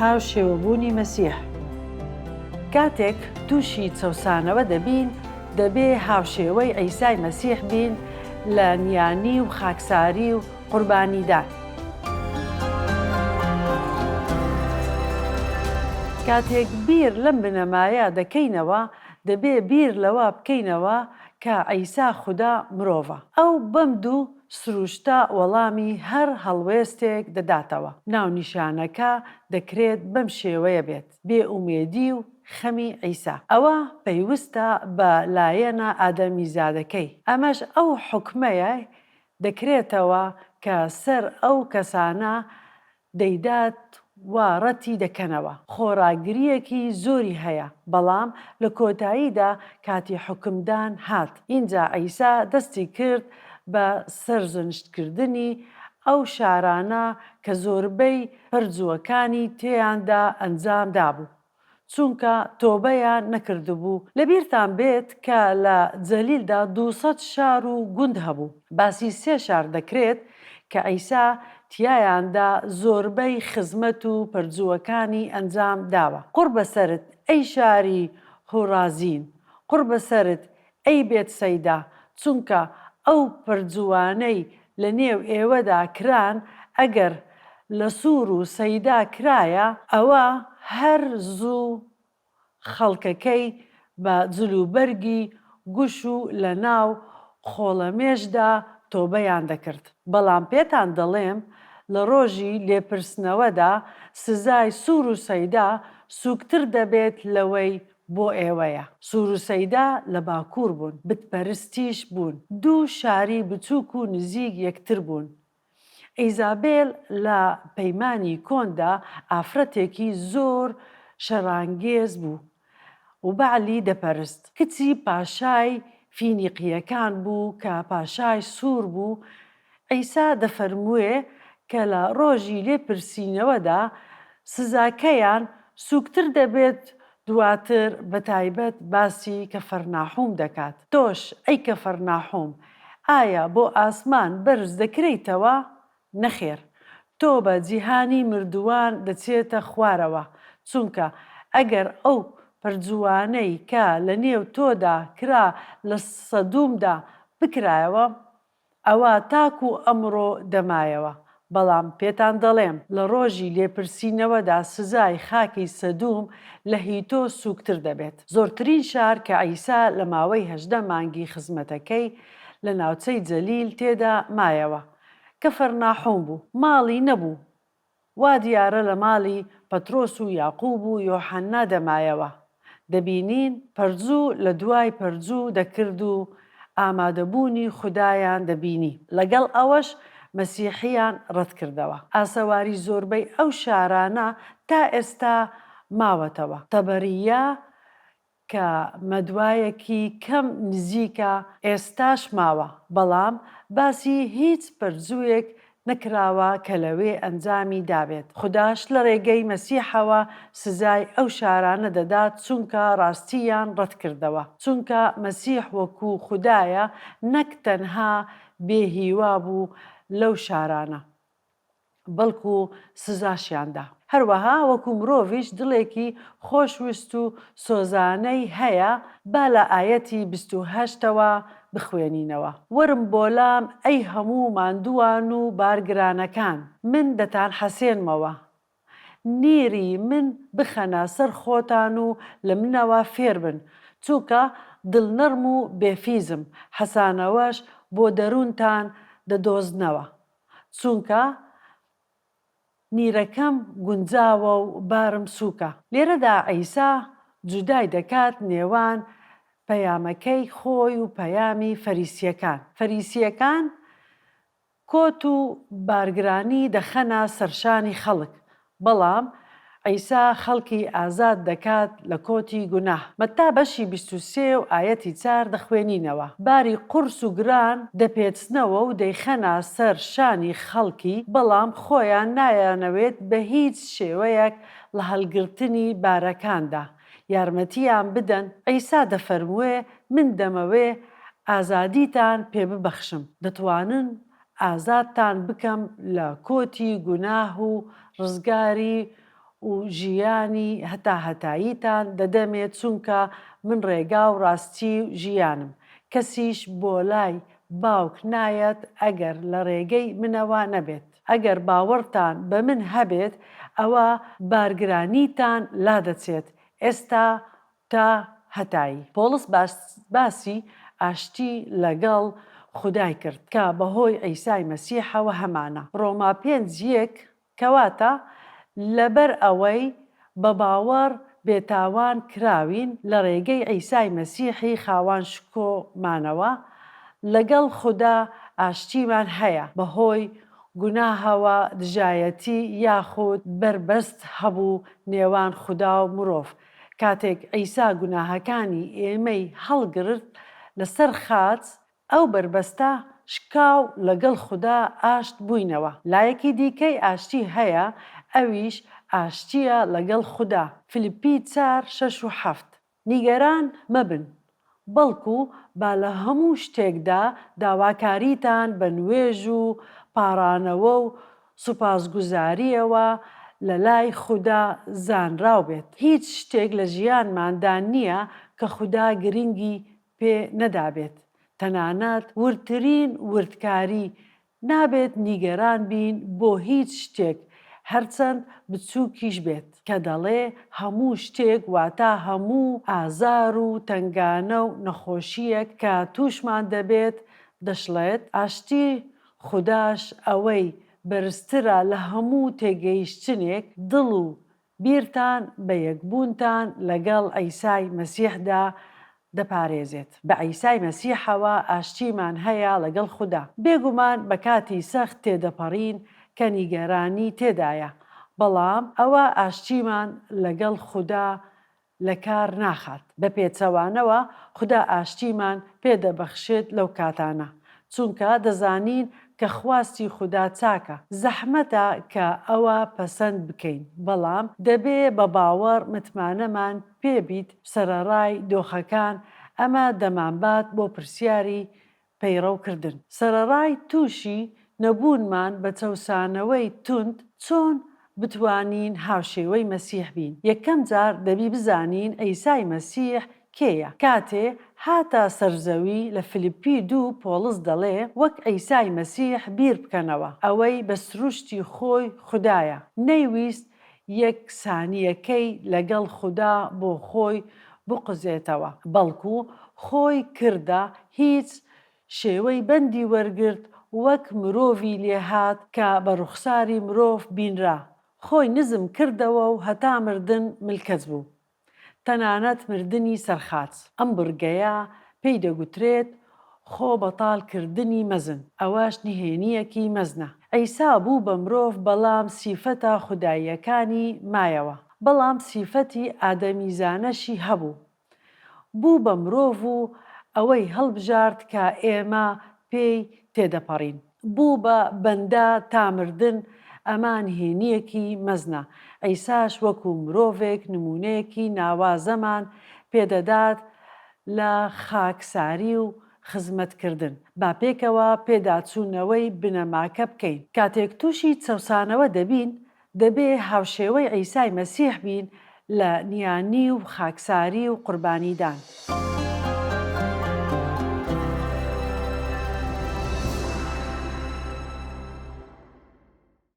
هاوشێوەبوونی مەسیح کاتێک تووشی چەوسانەوە دەبین، دەبێ هاوشێوەی عیسای مەسیح بین لە نیانی و خاکساری و قوربانیدان. کاتێک بیر لەم بنەمایە دەکەینەوە، دەبێ بیر لەوە بکەینەوە کە عیسا خودا مرۆڤە. ئەو بەم دوو سروشتە وەڵامی هەر هەڵوێستێک دەداتەوە. ناونیشانەکە دەکرێت بەم شێوەیە بێت، بێ ئومێدی و خەمی عیسا. ئەوە پەیوستە بە لایەنە ئادەمیزادەکەی. ئەمەش ئەو حوکمەیە دەکرێتەوە کە سەر ئەو کەسانە دەیدات و ڕەتی دەکەنەوە. خۆڕاگرییەکی زۆری هەیە، بەڵام لە کۆتاییدا کاتی حوکمدان هات، ئینجا عیسا دەستی کرد بە سەرزنشتکردنی ئەو شارانە کە زۆربەی پەرجووەکانی تێیاندا ئەنجام دابوو. چونکە تۆبەیان نەکردبوو، لەبیرتان بێت کە لە جەلیلدا دوو سەد شار و گوند هەبوو، باسی سێ شار دەکرێت کە عیسا تیایاندا زۆربەی خزمەت و پەرجووەکانی ئەنجام داوە، قوڕ بەسەرت ئەی شاری هورازین، قوڕ بەسەرت ئەی بێت سەیدا چونکە ئەو پرجووانەی لە نێو ئێوەدا کران ئەگەر لە سوور و سەیدا کرایە، ئەوە هەر زوو خەڵکەکەی بە جلوبەرگی گوش و لە ناو خۆڵەمێشدا تۆبەیان دەکرد، بەڵام پێتان دەڵێم لە ڕۆژی لێپرسنەوەدا سزای سوور و سەیدا سووکتر دەبێت لەوەی بۆ ئێوەیە سورو سەیدا لە باکور بوون بت پەرستیش بوون دوو شاری بچوک و نزیک یەکتر بوون ئیزابێل لە پەیمانی کۆندا ئافرەتێکی زۆر شەرانگێز بوو و بەعلی دەپەرست کچی پاشای فینیقیەکان بوو کە پاشای سور بوو عیسا دەفەرمووێ کە لە ڕۆژی لێپرسینەوەدا سزاکەیان سووکتر دەبێت دواتر بە تایبەت باسی کەفەرناحوم دەکات تۆش ئەی کەفەرناحوم ئایا بۆ ئاسمان بەرز دەکرێیتەوە نەخێر تۆ بە جیهانی مردووان دەچێتە خوارەوە چونکە ئەگەر ئەو پەرجووانەی کە لە نێو تۆدا کرا لە سەدوومدا بکرایەوە ئەوە تاکو ئەمڕۆ دەمایەوە، بەڵام پێتان دەڵێم لە ڕۆژی لێپرسینەوەدا سزای خاکی سەدوم لە هیتۆ سووکتر دەبێت. زۆرترین شار کە عیسا لە ماوەی هەژدە مانگی خزمەتەکەی لە ناوچەی جەلیل تێدا مایەوە، کەفەرناحوم بوو. ماڵی نەبوو، وا دیارە لە ماڵی پەترۆس و یاقوب و یۆحەننا دەمایەوە، دەبینین پەرجوو لە دوای پەرجوو دەکرد و ئامادەبوونی خودایان دەبینی. لەگەڵ ئەوەش مەسیحیان ڕەتکردەوە. ئاسەواری زۆربەی ئەو شارانە تا ئێستا ماوەتەوە. تەبەرییە کە مەدوایەکی کەم نزیکە ئێستاش ماوە، بەڵام باسی هیچ پەرجووێک نەکراوە کە لەوێ ئەنجامی دابێت، خوداش لە ڕێگەی مەسیحەوە سزای ئەو شارانە دەدات چونکە ڕاستییان ڕەتکردەوە، چونکە مەسیح وەکو خودایە نەک تەنها بێهیوا بوو لەو شارانە. بەڵکو سزاشیان دا. هەروەها وەکو مرۆڤیش دڵێکی خۆش ویست و سۆزانەی هەیە، با لە ئایەتی بیست و هەشت ەوە بخوێنینەوە، وەرم بۆلام ئەی هەموو ماندووان و بارگرانەکان، من دەتان حەسێنمەوە، نیری من بخەنە سەر خۆتان و لە منەوە فێربن، چونکە دڵنەڕم و بێفیزم، حەسانەوەش بۆ دەروونتان دەدۆزنەوە. چونکە نیرەکەم گونجاوە و بارم سووکە. لێرەدا عیسا جودای دەکات نێوان پەیامەکەی خۆی و پەیامی فەریسییەکان. فەریسییەکان کۆت و بارگرانی دەخەنە سەرشانی خەڵک، بەڵام عیسا خەڵکی ئازاد دەکات لە کۆتی گوناه. مەتا بەشی بیست و سێ و ئایەتی چار دەخوێنینەوە، باری قورس و گران دەپێچنەوە و دەیخەنە سەر شانی خەڵکی، بەڵام خۆیان نایانەوێت بە هیچ شێوەیەک لە هەڵگرتنی بارەکاندا یارمەتییان بدەن، عیسا دەفەرموێ، من دەمەوێ ئازادیتان پێ ببەخشم، دەتوانن ئازادتان بکەم لە کۆتی گوناه و ڕزگاری و ژیانی هەتا هەتاییتان دەدەمێ چونکە من ڕێگا و ڕاستی ژیانم کەسیش بۆ لای باوک نایەت ئەگەر لە ڕێگەی منەوە نەبێت ئەگەر باوەڕتان بە من هەبێت ئەوە بارگرانیتان لادەچێت ئێستا تا هەتایی پۆڵس باسی ئاشتی لەگەڵ خودای کرد کە بەهۆی عیسای مەسیحەوە هەمانە، ڕۆما پێنج یەک، کەواتە لەبەر ئەوەی بە باوەڕ بێتاوان کراوین لە ڕێگەی عیسای مەسیحی خاوان شکۆمانەوە لەگەڵ خودا ئاشتیمان هەیە، بەهۆی گوناهەوە دژایەتی یاخود بەربەست هەبوو نێوان خودا و مرۆڤ، کاتێک عیسا گوناهەکانی ئێمەی هەڵگرت لەسەر خاچ، ئەو بەربەستە شکا و لەگەڵ خودا ئاشت بووینەوە. لایەکی دیکەی ئاشتی هەیە، ئەویش ئاشتییە لەگەڵ خودا، فیلیپی چار، شەش و حەفت. نیگەران مەبن، بەڵکو با لە هەموو شتێکدا داواکاریتان بە نوێژ و پاڕانەوە و سوپاسگوزارییەوە لە لای خودا زانراو بێت. هیچ شتێک لە ژیانماندا نییە کە خودا گرنگی پێ نەدابێت، تەنانەت وردترین وردکاری نابێت نیگەران بین بۆ هیچ شتێک هەرچەند بچووکیش بێت، کە دەڵێ هەموو شتێک واتا هەموو ئازار و تەنگانە و نەخۆشییەک کە تووشمان دەبێت، دەشڵێت ئاشتی خوداش ئەوەی بەرزترە لە هەموو تێگەیشتنێک، دڵ و بیرتان بە یەکبوونتان لەگەڵ عیسای مەسیحدا دەپارێزێت. بە عیسای مەسیحەوە ئاشتیمان هەیە لەگەڵ خودا. بێگومان بە کاتی سەخت تێدەپەڕین کە نیگەرانی تێدایە، بەڵام ئەوە ئاشتیمان لەگەڵ خودا لەکار ناخات بە پێچەوانەوە خودا ئاشتیمان پێ دەبەخشێت لەو کاتانە چونکە دەزانین کە خواستی خودا چاکە زەحمەتە کە ئەوە پەسەند بکەین بەڵام دەبێ بە باوەڕ متمانەمان پێ بیت سەرەڕای دۆخەکان ئەمە دەمانبات بۆ پرسیاری پەیڕەو کردن سەرەڕای تووشی نەبوونمان بە چەوسانەوەی توند چۆن بتوانین هاوشێوەی مەسیح بین یەکەم جار دەبی بزانین عیسای مەسیح کێیە کاتێ هاتە سەر زەوی لە فلیپی دوو پۆڵس دەڵێ وەک عیسای مەسیح بیر بکەنەوە ئەوەی بە سروشتی خۆی خودایە نەیویست یەک سانیەکەی لەگەڵ خودا بۆ خۆی بقوزێتەوە بەڵکو خۆی کردە هیچ شێوەی بەندی وەرگرت وەک مرۆڤی لێهات کە بە ڕوخساری مرۆڤ بینرا خۆی نزم کردەوەو هەتا مردن ملکەچ بوو تەنانەت مردنی سەرخاچ. ئەم بڕگەیە پێی دەگوترێت خۆ بەتاڵ کردنی مەزن، ئەوەش نهێنییەکی مەزنە. عیسا بوو بە مرۆڤ بەڵام سیفەتە خوداییەکانی مایەوە، بەڵام سیفەتی ئادەمیزانەشی هەبوو. بوو بە مرۆڤ و ئەوەی هەڵبژارد کە ئێمە پێی تێدەپەڕین. بوو بە بەندە تا مردن، ئەمە نهێنییەکی مەزنە، عیساش وەکو مرۆڤێک نموونەیەکی ناوازەمان پێ دەدات لە خاکساری و خزمەتکردن. با پێکەوە پێداچوونەوەی بنەماکە بکەین. کاتێک تووشی چەوسانەوە دەبین، دەبێ هاوشێوەی عیسای مەسیح بین لە نیانی و خاکساری و قوربانیدان.